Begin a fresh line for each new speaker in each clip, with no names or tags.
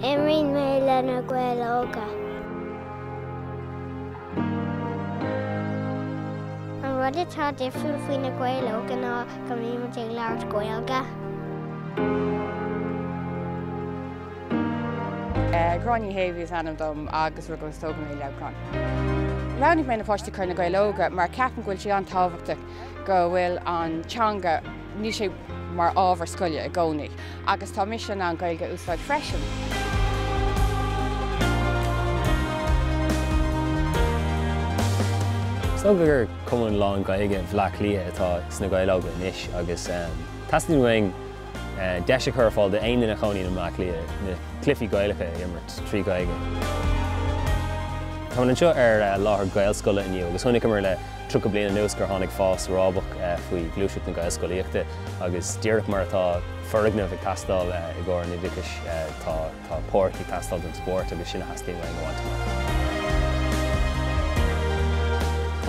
Imríonn mé le Na Gaeil Óga. An rud atá difriúil faoi Na Gaeil Óga ná go mbíonn muid ag labhairt
Gaeilge. Gráinne Ní hÉafa is ainm dom agus rugadh agus tógadh mé i Leamhcán. Roghnaigh mé na páistí a chur chuig Na Gaeil Óga mar ceapaim go bhfuil sé an-tábhachtach. go bhfuil an teanga, níl sé mar ábhar scoile i gcónaí agus tá misean ann Gaeilge a úsáid freisin.
Is dócha gur cumann lán-Ghaeilge Bhleá Cliath atá sna Gaeil Óga anois agus teastaíonn uainn deis a chur ar fáil d'aon duine a chónaíonn i mBleá Cliath na cluichí Gaelacha a imirt trí Ghaeilge. Táimid anseo ar láthair Gaelscoile inniu agus chonaiceamar le tríocha bliain anuas gur tháinig fás rábach faoi ghluaiseacht na Gaelscolaíochta agus díreach mar atá foirgneamh ag teastáil i gcomhair an oideachais tá Tá páirc ag teastáil don spórt agus sin a theastaíonn uainn a bhaint amach.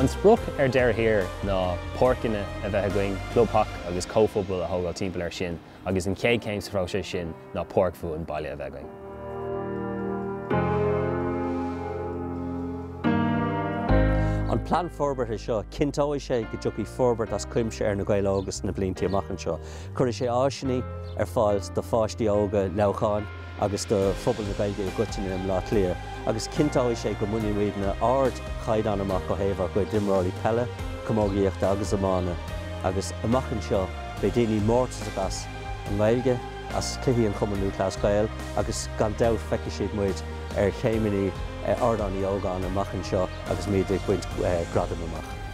An sprioc ar deireadh thiar ná páirceanna a bheith againn, clubtheach agus comhphobal a thógáil timpeall air sin agus an chéad chéim sa phróiseas sin ná páirc bhuan baile a bheith againn.
An plean forbartha seo, cinnteoidh sé go dtiocfaidh forbairt as cuimse ar Na Gaeil Óga sna blianta amach anseo. Cuirfidh sé áiseanna ar fáil do pháistí óga Leamhcháin agus do phobal na Gaeilge i gcoitinne i mBleá Cliath agus cinnteoidh sé go mbainfidh muidne ardchaighdeán amach ó thaobh ár gcuid imreoirí peile, camógaíochta agus iomána agus amach anseo beidh daoine mórtasach as an nGaeilge, as cluichí an Chumainn Lúthchleas Gael agus gan dabht feicfidh siad muid ar chéimeannaí Ardán Uí Ógáin amach anseo agus muid ag baint gradaim amach.